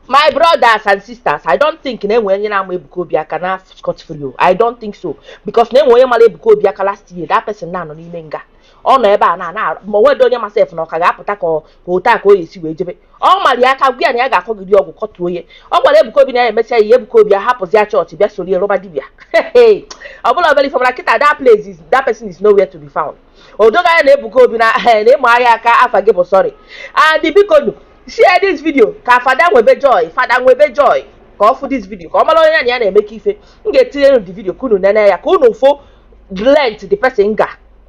my brothers and sisters i don't think na enwe onye na-ama Ebuka Obi aka naa scot free o i don't think so because na enwe onye mara Ebuka Obi aka last year that person na-anọ n'ime nga ọ nọ ebe a na na ma o nwedị onye ma sef na ọ ka ga-apụta ka ọ- ka ote a ka o ya esi wee jebe ọ mara ya aka gwa ya na ya ga-akọgide ọgwụ kọtuo ya ọ gwara Ebuka Obi na ya emesịa ya Ebuka Obi ahapụzi ya chọọchị bịa soro ya rụba dibia ọ bụla obere ife ọ mara kịta that place is that person is nowhere to be found o doo gị anya na Ebuka Obi na na ị maa ya aka afa gị bụ sorry and biko nu share this video ka fada nwebe joy fada nwebe joy ka ọ fụ this video ka ọ mara onye ya na ya na-eme ka ife m ga-etinye unu the video ka unu nene ya ka unu fụ length the person ga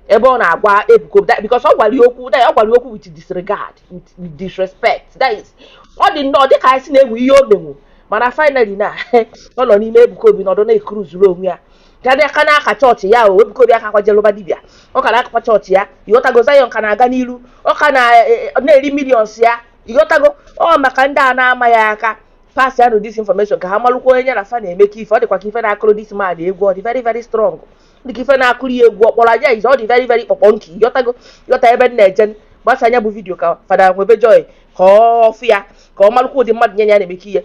ebe ọ na-agwa Ebuka Obi that- because ọ gwara ya okwu that- ọ gwara ya okwu with disregard with with disrespect that is ọ dị nnọọ dịka a sị na enwe ihe o menwu mana finally na ọ nọ n'ime Ebuka Obi nọdụ na-ekuruzuru onwe ya ka bịa ka na-aka chọọchị ya o Ebuka Obi akakwa je lụba dibịa ọ ka na-akakwa chọọchị ya ịghọtago Zion ka na-aga n'iru ọ ka na- e- e- ọ na-eri millions ya ịghọtago ọ maka ndị a na-ama ya aka pass ya nụ this information ka ha malụkwa onye ya na fa na-eme ka ife ọ dịkwa ka ife na-akụrụ this man egwu ọ dị very very strong dị ka ife na-akụrụ ya egwu ọkpọrọ anya ize ọ dị very very kpọkpọ nke ịghọtago ịghọta ebe m na-eje gbasaa nya bụ vidiyo ka fada nwebe joy ka ọ fụ ya ka ọ malụkwa ụdị mmadụ nya na ya na-eme ka ihe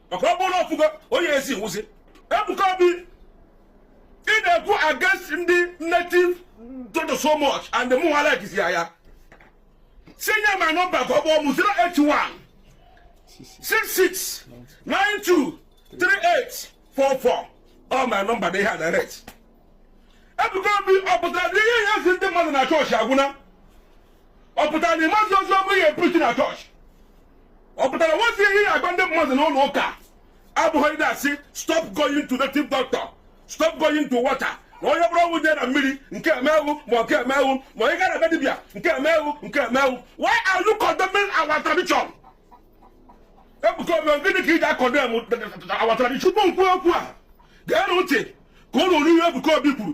maka ọ bụrụ ọfụgo onye esi wụzi Ebuka Obi ị na-ekwu against ndị native doctor so much and mụ nwa like ya ya si nye my number ka ọ kpọọ mụ 081 66 92 38 44 ọ my number dị ihe a direct Ebuka Obi ọ pụtara na ihe ị ya-asị ndị mmadụ na chọọchị agwụna ọ pụtara na ị mazi ozi ọma ị ya-epreach na chọọchị ọ pụtara na enwezi ihe ị ya-agwa ndị mmadụ n'ụlọ ụka abụghị ndị asị stop going to native doctor stop going to water na onye buru ọgwụ jee na mmiri nke emewu ma nke emewu ma onye gara ebe dibịa nke emewu nke emewu why are you condemning our tradition Ebuka Obi gịnị ka i ji a-condemn our tradition tupu m kwuo okwu a geenụ ntị ka unu nụrụ ihe Ebuka Obi kwuru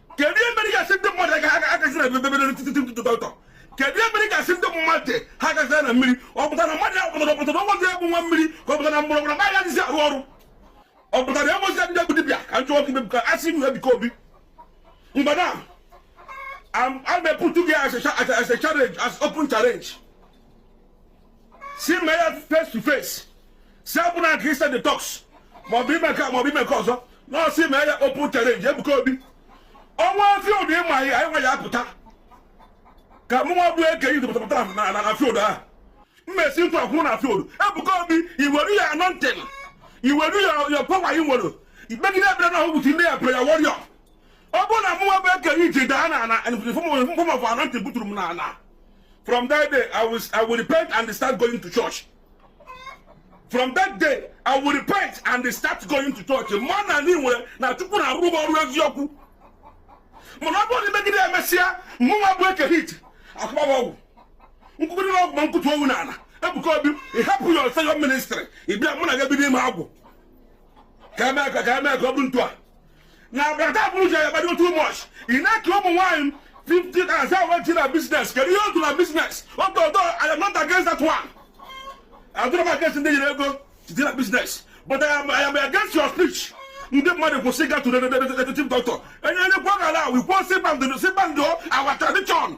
kedu ihe mere ị ga-asị ndị mmadụ agaghị na ebe ebe ebe nati- native doctor kedu ihe mere ị ga-asị ndị mmadụ ha agaghị na mmiri ọ pụtara mmadụ ya pụtara ọ pụtara ọgwọzi egbu nwa mmiri ka ọ pụtara mgbọrọgwụ anaghị dịzi arụ ọrụ ọ pụtara ya mozi ndị egwu dibịa ka njọ ọkụ ka a sị ihu Ebuka Obi mgbe na a na-eputu gị as a challenge as open challenge sị mee ya face to face si abụ na kristian detox maọbụ ime nke maọbụ ime nke ọzọ no sị mee ya open challenge Ebuka Obi o nwee field ịma ya anyị nwa ya apụta ka mụ nwa bụ eke yi pụtapụta na na field ahụ mmesi ntụ akwụrụ na field Ebuka Obi iweru your anointing iweru your power i nwere ikpegide ekpere na ọgwụgwụ ndị your prayer warrior ọ bụrụ na mụnwa bụ Eke Hit daa na ana in form of anointing buturu m na ana from that day I will, I will repent and start going to church from that day I will repent and start going to church mma na ndị nwere na chukwu na-arụ m ọrụ eziokwu mana ọ bụrụ na i megide e mesịa mụnwa bụ Eke Hit akụgbawa ọgwụ nkwụkwụrụ na ọgwụ ma m kụtuo wụ na ana ebuka obi ị hapụ your Zion ministry ị bịa mụ na gị ebido ime agwụ ka eme ka ka eme ka ọ bụrụ ntu a na agbata bụrụ ji agbado too much ị na-eke ụmụ nwaanyị 50 thousand went to na business kedu ihe otu na business although I am not against that one adịrọ m against ndị nyere ego dị na business but I am, I am against your speech ndị mmadụ kwụsị ịga to the native doctor enye onye kwọ gara we kwụsị abandon our tradition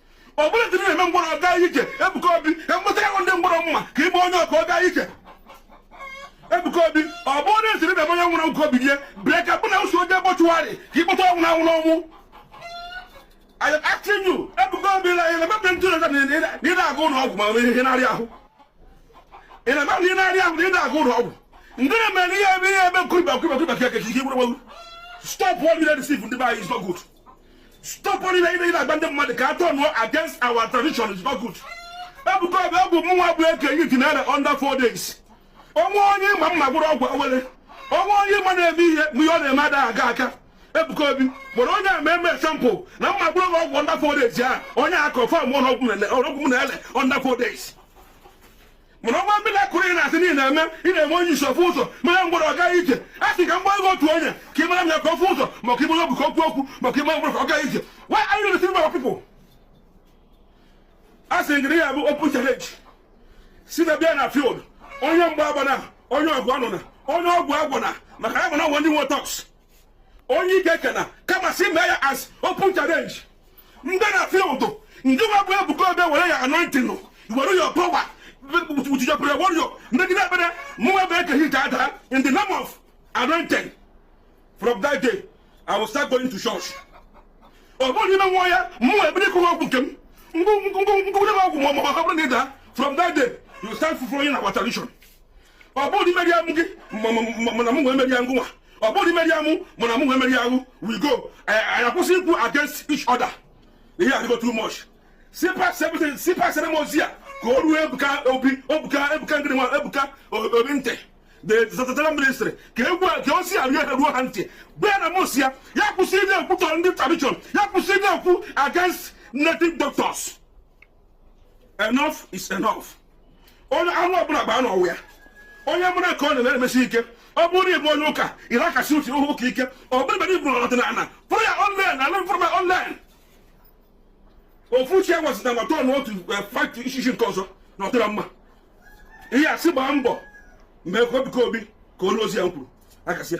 ọ bụrụ dị na-eme ngwọrọ ọ ga ije Ebuka Obi enwetara gị ndị ngwọrọ m ma ka i mee onye ọ ka ọ ga ije Ebuka Obi ọ bụ onye siri na onye nwụrụ ka o bilie bịa ka mụ na wụ soo jee mortuary ka ịkpọta onye nwụrụ anwụ n'ọnwụ I am asking you Ebuka Obi na ị na-eme ntụ na ị na-aga ụlọ ọgwụ ma ọ bụ ihe na-arị ahụ ị na-eme na ị na-arị ahụ na ị na-aga ụlọ ọgwụ ndị na-eme na ihe ebe ihe ebe nkụrịba nkụrịba nkụrịba ka ekechi ihe gwụrụ stop what you deceive ndị be anyị is not good stop onye na-ị na-agba ndị mmadụ ka ha turn-ụọ against our tradition is not good ebuka obi ọgwụ mụnwa bụ Eke Hit na-ere under four days onwe onye ị ma m ma-agwọrọ ọgwụ awele onwe onye ị ma na-eme ihe mgbe ihe ọ na-eme ada aga aka ebuka obi were onye a mee sample na m ma-agwọrọ gị ọgwụ under four days ya onye a confirm-ụọ na ọgwụ na-ele under four days mana ọ bụ miracle ị na-asị na ị na-eme ị na-eme onye isi ọ fụ ụzọ mee ngwọrọ ọ gaa ije a sị ka mgba ego otu onye ka i meere m ya ka ọ fụ ụzọ ma ka i mee ogbi ka o kwuo okwu ma ka i mee ngwọrọ ka ọ gaa ije why are you deceiving our people a sị gịrị ya bụ open challenge si na bịa na field onye mgba agbana onye ọgụ anụna onye ọgwụ agwọna maka ya bụ na e nwe ndị nwe thugs onye ike ekena kama si mee ya as open challenge in the field gịnwa bụ ebuka obi were your anointing were your power with your prayer warrior megide ekpere mụnwa bụ Eke Hit adaa in the name of anointing from that day i will start going to church ọ bụrụ na i menwaa ya mụnwa ebido ịkụwa ọgwụ nke m ngwụgwụ ọgwụ ma ọ bụrụ na ị daa from that day you start following our tradition ọ bụrụ na i meria mụ gị ma- ma- ma- mana mụ wee meria ngụnwa ọ bụrụ na i meria mụ mana mụ wee meria wụ we go anyị anyị akwụsị ikwu against each other ihe adịgo too much sipa sebụte sipa sere m ozi a ka o ruo ebuka obi ebuka ebuka ngịrị nwa ebuka O- obi ntị the zatara ministry ka egwu a- ka ozi a ruo ha ruo ha ntị gwa ya na mụ sị ya ya kwụsị ịna-ekwutọ ndị tradition ya kwụsị ịna-ekwu against native doctors enough is enough onye anụ ọbụla bụ anụ ọwụ ya onye mụrụ ka ọ na-emesi ike ọ bụrụ ịbụ onye ụka ị na-akasi uche ụka ike ọ bụrụ ebe i buru ọdịnala fụrụ ya online ala m fụrụ ya online ofu uche gwasịta na tọn otu eh, fight ishishi nke ọzọ na ọ dịra mma ihe a sị gbaa mbọ mee ka Ebuka Obi ka olu ozi ya m kwuru akasịa